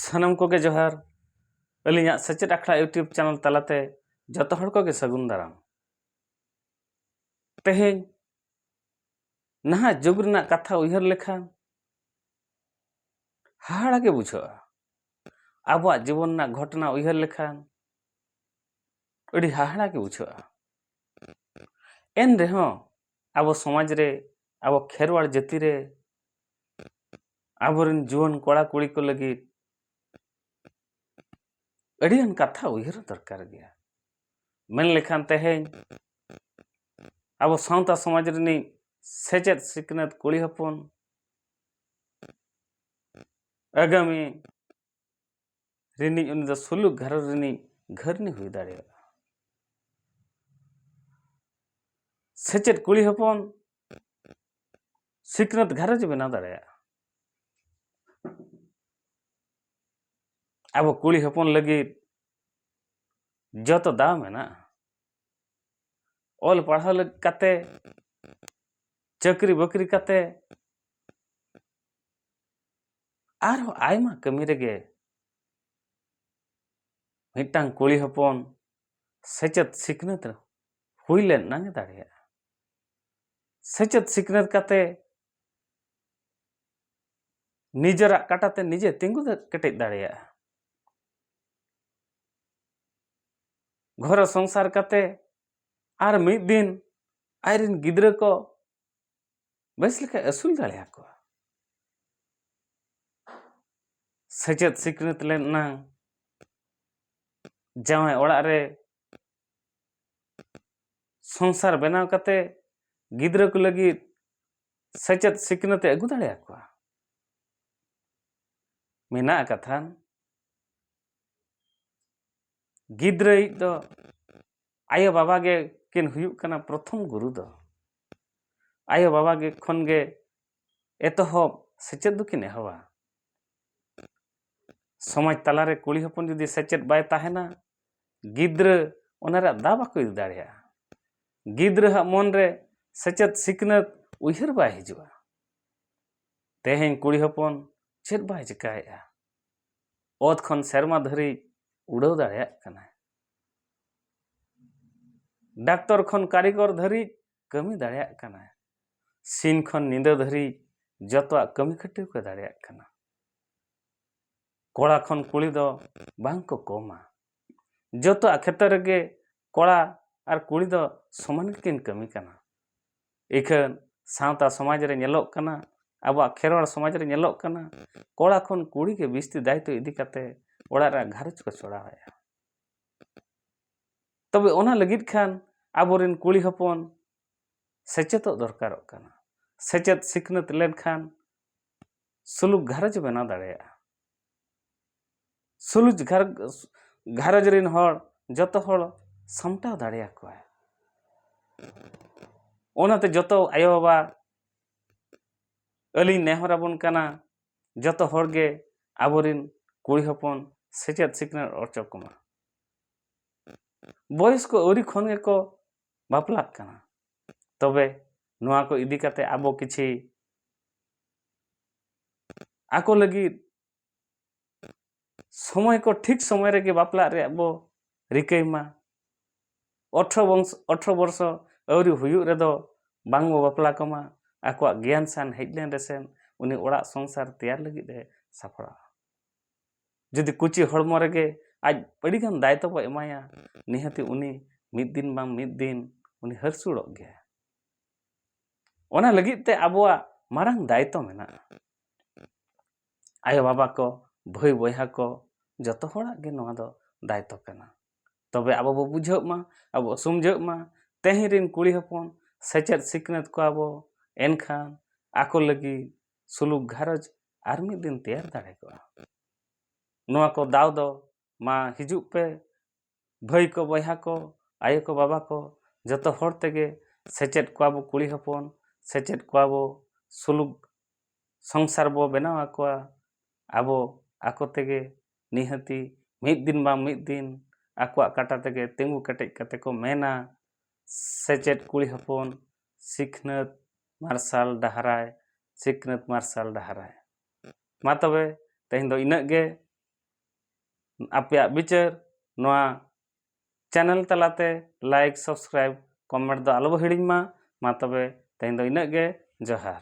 ᱥᱟᱱᱟᱢ ᱠᱚᱜᱮ ᱡᱚᱦᱟᱨ ᱟᱹᱞᱤᱧᱟᱜ ᱥᱮᱪᱮᱫ ᱟᱠᱷᱲᱟ ᱤᱭᱩᱴᱩᱵᱽ ᱪᱮᱱᱮᱞ ᱛᱟᱞᱟᱛᱮ ᱡᱚᱛᱚ ᱦᱚᱲ ᱠᱚᱜᱮ ᱥᱟᱹᱜᱩᱱ ᱫᱟᱨᱟᱢ ᱛᱮᱦᱮᱧ ᱱᱟᱦᱟᱜ ᱡᱩᱜᱽ ᱨᱮᱱᱟᱜ ᱠᱟᱛᱷᱟ ᱩᱭᱦᱟᱹᱨ ᱞᱮᱠᱷᱟᱱ ᱦᱟᱦᱟᱲᱟ ᱜᱮ ᱵᱩᱡᱷᱟᱹᱜᱼᱟ ᱟᱵᱚᱣᱟᱜ ᱡᱤᱵᱚᱱ ᱨᱮᱱᱟᱜ ᱜᱷᱚᱴᱚᱱᱟ ᱩᱭᱦᱟᱹᱨ ᱞᱮᱠᱷᱟᱱ ᱟᱹᱰᱤ ᱦᱟᱦᱟᱲᱟ ᱜᱮ ᱵᱩᱡᱷᱟᱹᱜᱼᱟ ᱮᱱ ᱨᱮᱦᱚᱸ ᱟᱵᱚ ᱥᱚᱢᱟᱡᱽ ᱨᱮ ᱟᱵᱚ ᱠᱷᱮᱨᱣᱟᱲ ᱡᱟᱹᱛᱤ ᱨᱮ ᱟᱵᱚᱨᱮᱱ ᱡᱩᱣᱟᱹᱱ ᱠᱚᱲᱟ ᱠᱩᱲᱤ ᱠᱚ ᱞᱟᱹᱜᱤᱫ ᱟᱹᱰᱤᱜᱟᱱ ᱠᱟᱛᱷᱟ ᱩᱭᱦᱟᱹᱨ ᱫᱚᱨᱠᱟᱨ ᱜᱮᱭᱟ ᱢᱮᱱ ᱞᱮᱠᱷᱟᱱ ᱛᱮᱦᱮᱧ ᱟᱵᱚ ᱥᱟᱶᱛᱟ ᱥᱚᱢᱟᱡᱽ ᱨᱤᱱᱤᱡ ᱥᱮᱪᱮᱫ ᱥᱤᱠᱷᱱᱟᱹᱛ ᱠᱩᱲᱤ ᱦᱚᱯᱚᱱ ᱟᱜᱟᱢᱤ ᱨᱤᱱᱤᱡ ᱩᱱᱤ ᱫᱚ ᱥᱩᱞᱩᱠ ᱜᱷᱟᱨᱚᱸᱡᱽ ᱨᱤᱱᱤᱡ ᱜᱷᱟᱹᱨᱱᱤ ᱦᱩᱭ ᱫᱟᱲᱮᱭᱟᱜᱼᱟ ᱥᱮᱪᱮᱫ ᱠᱩᱲᱤ ᱦᱚᱯᱚᱱ ᱥᱤᱠᱷᱱᱟᱹᱛ ᱜᱷᱟᱨᱚᱸᱡᱽ ᱵᱮᱱᱟᱣ ᱫᱟᱲᱮᱭᱟᱜᱼᱟ ᱟᱵᱚ ᱠᱩᱲᱤ ᱦᱚᱯᱚᱱ ᱞᱟᱹᱜᱤᱫ ᱡᱚᱛᱚ ᱫᱟᱣ ᱢᱮᱱᱟᱜᱼᱟ ᱚᱞ ᱯᱟᱲᱦᱟᱣ ᱠᱟᱛᱮ ᱪᱟᱹᱠᱨᱤ ᱵᱟᱹᱠᱨᱤ ᱠᱟᱛᱮ ᱟᱨᱦᱚᱸ ᱟᱭᱢᱟ ᱠᱟᱹᱢᱤ ᱨᱮᱜᱮ ᱢᱤᱫᱴᱟᱝ ᱠᱩᱲᱤ ᱦᱚᱯᱚᱱ ᱥᱮᱪᱮᱫ ᱥᱤᱠᱷᱱᱟᱹᱛ ᱦᱩᱭ ᱞᱮᱱ ᱱᱟᱝ ᱮ ᱫᱟᱲᱮᱭᱟᱜᱼᱟ ᱥᱮᱪᱮᱫ ᱥᱤᱠᱷᱱᱟᱹᱛ ᱠᱟᱛᱮ ᱱᱤᱡᱮᱨᱟᱜ ᱠᱟᱴᱟᱛᱮ ᱱᱤᱡᱮ ᱛᱤᱸᱜᱩ ᱠᱮᱴᱮᱡ ᱫᱟᱲᱮᱭᱟᱜᱼᱟ ᱜᱷᱚᱨᱚ ᱥᱚᱝᱥᱟᱨ ᱠᱟᱛᱮ ᱟᱨ ᱢᱤᱫ ᱫᱤᱱ ᱟᱡᱨᱮᱱ ᱜᱤᱫᱽᱨᱟᱹ ᱠᱚ ᱵᱮᱥ ᱞᱮᱠᱟ ᱟᱹᱥᱩᱞ ᱫᱟᱲᱮ ᱟᱠᱚᱣᱟ ᱥᱮᱪᱮᱫ ᱥᱤᱠᱷᱱᱟᱹᱛ ᱞᱮᱱ ᱮᱱᱟᱝ ᱡᱟᱶᱟᱭ ᱚᱲᱟᱜ ᱨᱮ ᱥᱚᱝᱥᱟᱨ ᱵᱮᱱᱟᱣ ᱠᱟᱛᱮ ᱜᱤᱫᱽᱨᱟᱹ ᱠᱚ ᱞᱟᱹᱜᱤᱫ ᱥᱮᱪᱮᱫ ᱥᱤᱠᱷᱱᱟᱹᱛ ᱮ ᱟᱹᱜᱩ ᱫᱟᱲᱮ ᱟᱠᱚᱣᱟ ᱢᱮᱱᱟᱜ ᱠᱟᱛᱷᱟ ᱜᱤᱫᱽᱨᱟᱹᱭᱤᱡ ᱫᱚ ᱟᱭᱳ ᱵᱟᱵᱟ ᱜᱮ ᱠᱤᱱ ᱦᱩᱭᱩᱜ ᱠᱟᱱᱟ ᱯᱨᱚᱛᱷᱚᱢ ᱜᱩᱨᱩ ᱫᱚ ᱟᱭᱳ ᱵᱟᱵᱟ ᱜᱮ ᱠᱷᱚᱱ ᱜᱮ ᱮᱛᱚᱦᱚᱵ ᱥᱮᱪᱮᱫ ᱫᱚᱠᱤᱱ ᱮᱦᱚᱵᱟ ᱥᱚᱢᱟᱡᱽ ᱛᱟᱞᱟᱨᱮ ᱠᱩᱲᱤ ᱦᱚᱯᱚᱱ ᱡᱩᱫᱤ ᱥᱮᱪᱮᱫ ᱵᱟᱭ ᱛᱟᱦᱮᱱᱟ ᱜᱤᱫᱽᱨᱟᱹ ᱚᱱᱟ ᱨᱮᱭᱟᱜ ᱫᱟᱣ ᱵᱟᱠᱚ ᱤᱫᱤ ᱫᱟᱲᱮᱭᱟᱜᱼᱟ ᱜᱤᱫᱽᱨᱟᱹᱣᱟᱜ ᱢᱚᱱ ᱨᱮ ᱥᱮᱪᱮᱫ ᱥᱤᱠᱷᱱᱟᱹᱛ ᱩᱭᱦᱟᱹᱨ ᱵᱟᱭ ᱦᱤᱡᱩᱜᱼᱟ ᱛᱮᱦᱮᱧ ᱠᱩᱲᱤ ᱦᱚᱯᱚᱱ ᱪᱮᱫ ᱵᱟᱭ ᱪᱤᱠᱟᱹᱭᱮᱫᱼᱟ ᱚᱛ ᱠᱷᱚᱱ ᱥᱮᱨᱢᱟ ᱫᱷᱟᱹᱨᱤᱡ ᱩᱰᱟᱹᱣ ᱫᱟᱲᱮᱭᱟᱜ ᱠᱟᱱᱟᱭ ᱰᱟᱠᱛᱚᱨ ᱠᱷᱚᱱ ᱠᱟᱹᱨᱤᱜᱚᱨ ᱫᱷᱟᱹᱨᱤᱡ ᱠᱟᱹᱢᱤ ᱫᱟᱲᱮᱭᱟᱜ ᱠᱟᱱᱟᱭ ᱥᱤᱧ ᱠᱷᱚᱱ ᱧᱤᱫᱟᱹ ᱫᱷᱟᱹᱨᱤᱡ ᱡᱚᱛᱚᱣᱟᱜ ᱠᱟᱹᱢᱤ ᱠᱷᱟᱹᱴᱤ ᱠᱚ ᱫᱟᱲᱮᱭᱟᱜ ᱠᱟᱱᱟ ᱠᱚᱲᱟ ᱠᱷᱚᱱ ᱠᱩᱲᱤ ᱫᱚ ᱵᱟᱝ ᱠᱚ ᱠᱚᱢᱟ ᱡᱚᱛᱚᱣᱟᱜ ᱠᱷᱮᱛᱨᱮ ᱨᱮᱜᱮ ᱠᱚᱲᱟ ᱟᱨ ᱠᱩᱲᱤ ᱫᱚ ᱥᱚᱢᱟᱱ ᱜᱮᱠᱤᱱ ᱠᱟᱹᱢᱤ ᱠᱟᱱᱟ ᱤᱠᱷᱟᱹᱱ ᱥᱟᱶᱛᱟ ᱥᱚᱢᱟᱡᱽ ᱨᱮ ᱧᱮᱞᱚᱜ ᱠᱟᱱᱟ ᱟᱵᱚᱣᱟᱜ ᱠᱷᱮᱨᱣᱟᱲ ᱥᱚᱢᱟᱡᱽ ᱨᱮ ᱧᱮᱞᱚᱜ ᱠᱟᱱᱟ ᱠᱚᱲᱟ ᱠᱷᱚᱱ ᱠᱩᱲᱤ ᱜᱮ ᱵᱤᱥᱛᱤ ᱫᱟᱭᱤᱛᱛᱚ ᱤᱫᱤ ᱠᱟᱛᱮ ᱚᱲᱟᱜ ᱨᱮᱭᱟᱜ ᱜᱷᱟᱨᱚᱸᱡᱽ ᱠᱚ ᱪᱚᱲᱟᱣᱮᱫᱼᱟ ᱛᱚᱵᱮ ᱚᱱᱟ ᱞᱟᱹᱜᱤᱫ ᱠᱷᱟᱱ ᱟᱵᱚᱨᱮᱱ ᱠᱩᱲᱤ ᱦᱚᱯᱚᱱ ᱥᱮᱪᱮᱫᱚᱜ ᱫᱚᱨᱠᱟᱨᱚᱜ ᱠᱟᱱᱟ ᱥᱮᱪᱮᱫ ᱥᱤᱠᱷᱱᱟᱹᱛ ᱞᱮᱱᱠᱷᱟᱱ ᱥᱩᱞᱩᱠ ᱜᱷᱟᱨᱚᱸᱡᱽ ᱵᱮᱱᱟᱣ ᱫᱟᱲᱮᱭᱟᱜᱼᱟ ᱥᱩᱞᱩᱡ ᱜᱷᱟᱨᱚᱸᱡᱽ ᱨᱮᱱ ᱦᱚᱲ ᱡᱚᱛᱚ ᱦᱚᱲ ᱥᱟᱢᱴᱟᱣ ᱫᱟᱲᱮᱭᱟᱠᱚᱣᱟᱭ ᱚᱱᱟᱛᱮ ᱡᱚᱛᱚ ᱟᱭᱳᱼᱵᱟᱵᱟ ᱟᱹᱞᱤᱧ ᱱᱮᱦᱚᱨᱟᱵᱚᱱ ᱠᱟᱱᱟ ᱡᱚᱛᱚ ᱦᱚᱲ ᱜᱮ ᱟᱵᱚ ᱨᱮᱱ ᱠᱩᱲᱤ ᱦᱚᱯᱚᱱ ᱥᱮᱪᱮᱫ ᱥᱤᱠᱷᱱᱟᱹᱛ ᱚᱪᱚ ᱠᱚᱢᱟ ᱵᱚᱭᱮᱥ ᱠᱚ ᱟᱹᱣᱨᱤ ᱠᱷᱚᱱ ᱜᱮᱠᱚ ᱵᱟᱯᱞᱟᱜ ᱠᱟᱱᱟ ᱛᱚᱵᱮ ᱱᱚᱣᱟ ᱠᱚ ᱤᱫᱤ ᱠᱟᱛᱮ ᱟᱵᱚ ᱠᱤᱪᱷᱤ ᱟᱠᱚ ᱞᱟᱹᱜᱤᱫ ᱥᱚᱢᱚᱭ ᱠᱚ ᱴᱷᱤᱠ ᱥᱚᱢᱚᱭ ᱨᱮᱜᱮ ᱵᱟᱯᱞᱟᱜ ᱨᱮᱭᱟᱜ ᱵᱚ ᱨᱤᱠᱟᱹᱭ ᱢᱟ ᱚᱴᱷᱨᱚ ᱵᱚᱝᱥᱚ ᱚᱴᱷᱨᱚ ᱵᱚᱨᱥᱚ ᱟᱹᱣᱨᱤ ᱦᱩᱭᱩᱜ ᱨᱮᱫᱚ ᱵᱟᱝ ᱵᱚ ᱵᱟᱯᱞᱟ ᱠᱚᱢᱟ ᱟᱠᱚᱣᱟᱜ ᱜᱮᱭᱟᱱ ᱥᱟᱱ ᱦᱮᱡ ᱞᱮᱱ ᱨᱮᱥᱮ ᱩᱱᱤ ᱚᱲᱟᱜ ᱥᱚᱝᱥᱟᱨ ᱛᱮᱭᱟᱨ ᱞᱟᱹᱜᱤᱫ ᱮ ᱥᱟᱯᱲᱟᱜᱼᱟ ᱡᱩᱫᱤ ᱠᱩᱪᱤ ᱦᱚᱲᱢᱚ ᱨᱮᱜᱮ ᱟᱡ ᱟᱹᱰᱤ ᱜᱟᱱ ᱫᱟᱭᱤᱛᱛᱚ ᱵᱚ ᱮᱢᱟᱭᱟ ᱱᱤᱦᱟᱹᱛᱤ ᱩᱱᱤ ᱢᱤᱫ ᱫᱤᱱ ᱵᱟᱝ ᱢᱤᱫ ᱫᱤᱱ ᱩᱱᱤ ᱦᱟᱹᱨᱥᱩᱲᱚᱜ ᱜᱮᱭᱟ ᱚᱱᱟ ᱞᱟᱹᱜᱤᱫ ᱛᱮ ᱟᱵᱚᱣᱟᱜ ᱢᱟᱨᱟᱝ ᱫᱟᱭᱤᱛᱛᱚ ᱢᱮᱱᱟᱜᱼᱟ ᱟᱭᱳ ᱵᱟᱵᱟ ᱠᱚ ᱵᱷᱟᱹᱭ ᱵᱚᱭᱦᱟ ᱠᱚ ᱡᱚᱛᱚ ᱦᱚᱲᱟᱜ ᱜᱮ ᱱᱚᱣᱟ ᱫᱚ ᱫᱟᱭᱤᱛᱛᱚ ᱠᱟᱱᱟ ᱛᱚᱵᱮ ᱟᱵᱚ ᱵᱚ ᱵᱩᱡᱷᱟᱹᱜ ᱢᱟ ᱟᱵᱚ ᱵᱚ ᱥᱚᱢᱡᱷᱟᱹᱜ ᱢᱟ ᱛᱮᱦᱮᱧ ᱨᱮᱱ ᱠᱩᱲᱤ ᱦᱚᱯᱚᱱ ᱥᱮᱪᱮᱫ ᱥᱤᱠᱷᱱᱟᱹᱛ ᱠᱚᱣᱟ ᱵᱚ ᱮᱱᱠᱷᱟᱱ ᱟᱠᱚ ᱞᱟᱹᱜᱤᱫ ᱥᱩᱞᱩᱠ ᱜᱷᱟᱨᱚᱸᱡᱽ ᱟᱨ ᱢᱤᱫ ᱫᱤᱱ ᱛᱮᱭᱟᱨ ᱫᱟᱲᱮ ᱠᱚᱜᱼᱟ ᱱᱚᱣᱟ ᱠᱚ ᱫᱟᱣ ᱫᱚ ᱢᱟ ᱦᱤᱡᱩᱜ ᱯᱮ ᱵᱷᱟᱹᱭ ᱠᱚ ᱵᱚᱭᱦᱟ ᱠᱚ ᱟᱭᱳ ᱠᱚ ᱵᱟᱵᱟ ᱠᱚ ᱡᱚᱛᱚ ᱦᱚᱲ ᱛᱮᱜᱮ ᱥᱮᱪᱮᱫ ᱠᱚᱣᱟ ᱵᱚ ᱠᱩᱲᱤ ᱦᱚᱯᱚᱱ ᱥᱮᱪᱮᱫ ᱠᱚᱣᱟ ᱵᱚ ᱥᱩᱞᱩᱠ ᱥᱚᱝᱥᱟᱨ ᱵᱚ ᱵᱮᱱᱟᱣ ᱟᱠᱚᱣᱟ ᱟᱵᱚ ᱟᱠᱚ ᱛᱮᱜᱮ ᱱᱤᱦᱟᱹᱛᱤ ᱢᱤᱫ ᱫᱤᱱ ᱵᱟᱝ ᱢᱤᱫ ᱫᱤᱱ ᱟᱠᱚᱣᱟᱜ ᱠᱟᱴᱟ ᱛᱮᱜᱮ ᱛᱤᱸᱜᱩ ᱠᱮᱴᱮᱡ ᱠᱟᱛᱮ ᱠᱚ ᱢᱮᱱᱟ ᱥᱮᱪᱮᱫ ᱠᱩᱲᱤ ᱦᱚᱯᱚᱱ ᱥᱤᱠᱷᱱᱟᱹᱛ ᱢᱟᱨᱥᱟᱞ ᱰᱟᱦᱟᱨᱟᱭ ᱥᱤᱠᱷᱱᱟᱹᱛ ᱢᱟᱨᱥᱟᱞ ᱰᱟᱦᱟᱨᱟᱭ ᱢᱟ ᱛᱚᱵᱮ ᱛᱮᱦᱮᱧ ᱫᱚ ᱤᱱᱟᱹᱜ ᱜᱮ ᱟᱯᱮᱭᱟᱜ ᱵᱤᱪᱟᱹᱨ ᱱᱚᱣᱟ ᱪᱮᱱᱮᱞ ᱛᱟᱞᱟᱛᱮ ᱞᱟᱭᱤᱠ ᱥᱟᱵᱥᱠᱨᱟᱭᱤᱵᱽ ᱠᱚᱢᱮᱱᱴ ᱫᱚ ᱟᱞᱚᱵᱚ ᱦᱤᱲᱤᱧ ᱢᱟ ᱢᱟ ᱛᱚᱵᱮ ᱛᱮᱦᱮᱧ ᱫᱚ ᱤᱱᱟᱹᱜ ᱜᱮ ᱡᱚᱦᱟᱨ